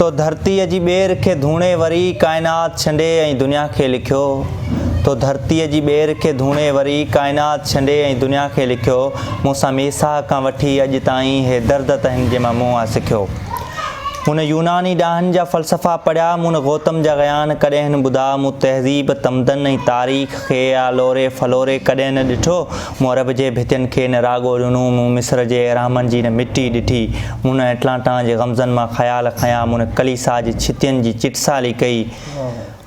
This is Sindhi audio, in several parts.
تو ڌرتيء جي ٻير کي ڌوڻي وري ڪائنات ڇنڊي ۽ دنيا کي لکيو تو ڌرتيء جي ٻير کي ڌوڻي وري ڪائنات ڇنڊي ۽ دنيا کي لکيو مون سان ميساء کان وٺي اڄ تائين هي درد ته هن جي مان مون آ سکيو مون يوناني ڏاهن جا فلسفا پڙهيا مون گوتم جا غيان ڪڏهن ٻڌا مون تهذيب تمدن ۽ تاريخ کي آ لوري ڦلوري ڪڏهن نه ڏٺو مورب جي ڀتين کي نه راڳو ڏنو مون مصر جي اهرامن جي نه مٽي ڏٺي مون نه اٽلانٽان جي غمزن مان خيال کنيا مون نه ڪليسا جي ڇتين جي چٽسالي ڪئي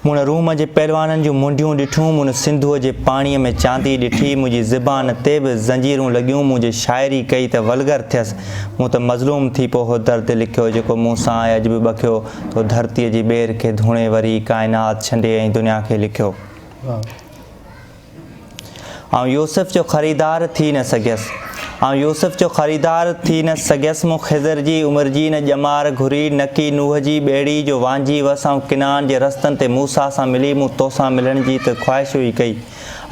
مون نه روم جي پهلوانن جون منڊيون ڏٺون مون نه سنڌوء جي پاڻيء ۾ چاندي ڏٺي منهنجي زبان تي به زنجيرون لڳيون مون جي شاعري ڪئي ته ولگر ٿيس مون ته مظلوم ٿي پوء اهو درد لکيو جيڪو مون سان آهي اڄ به ٻکيو تو ڌرتيء جي ٻير کي ڌوڻي وري ڪائنات ڇنڊي ۽ دنيا کي لکيو. آئون يوسف جو خريدار ٿي نه سگهيس. آئون يوسف جو خريدار ٿي نه سگهيس، مون خضر جي عمر جي نه ڄمار گهري، نڪي نوح جي ٻيڙي جو وانجهي هئس، آئون ڪنعان جي رستن تي موسيٰ سان ملي، مون توسان ملڻ جي ته خواهش هئي ڪئي،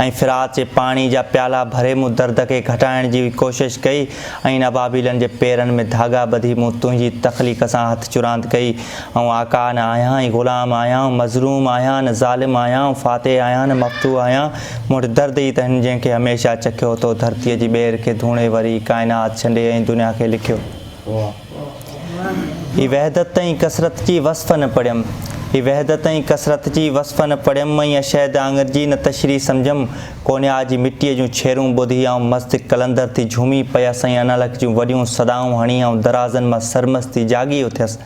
۽ فرات جي پاڻي جا پيالا ڀري مون درد کي گهٽائڻ جي هئي ڪوشش ڪئي، ۽ ان ابابيلن جي پيرن ۾ ڌاڳا ٻڌي مون تنهنجي تخليق سان هٿ چراند ڪئي، آئون آقا نه آهيان ۽ غلام آهيان، آئون مظلوم آهيان نه ظالم آهيان، آئون فاتح آهيان نه مفتوح آهيان، مون وٽ درد ئي ته هن جنهن کي هميشه چکيو تو ڌرتيء جي ٻير کي ڌوڻي وري ڪائنات ڇنڊي ۽ دنيا کي لکيو. هي وحدت ۽ ڪثرت جي وصف نه پڙهيم، هي وحدت ۽ ڪثرت جي وصف نه پڙهيم ۽ اشهد آڱر جي نه تشريح سمجهيم، ڪونيا جي مٽيء جون ڇيرون ٻڌي آئون مست قلندر ٿي جهومي پيس ۽ انالڪ جون وڏيون صدائون هڻي آئون درازن مان سرمست ٿي جاڳي اٿيس.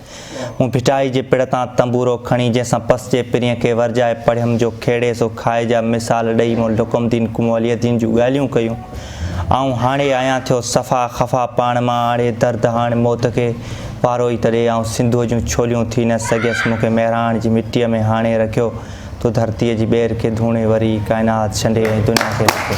مون ڀٽائي جي پڙ تان تنبورو کڻي جنهن سان پس جي پرينء کي ورجائي پڙهيم جو کهڙي سو کائي جا مثال ڏئي مون لقم الدين ڪنوالي الدين جون ڳالهيون ڪيون. آئون هاڻي آهيان ٿيو صفا خفا پاڻ مان آڻي درد هاڻ موت کي پارو ئي تڏي آئون سنڌوء جون ڇوليون ٿي نه سگهيس مون کي مهراڻ جي مٽيء ۾ هاڻي رکيو تو ڌرتيء جي ٻير کي ڌوڻي وري ڪائنات شنڊي ۽ دنيا کي رکيو.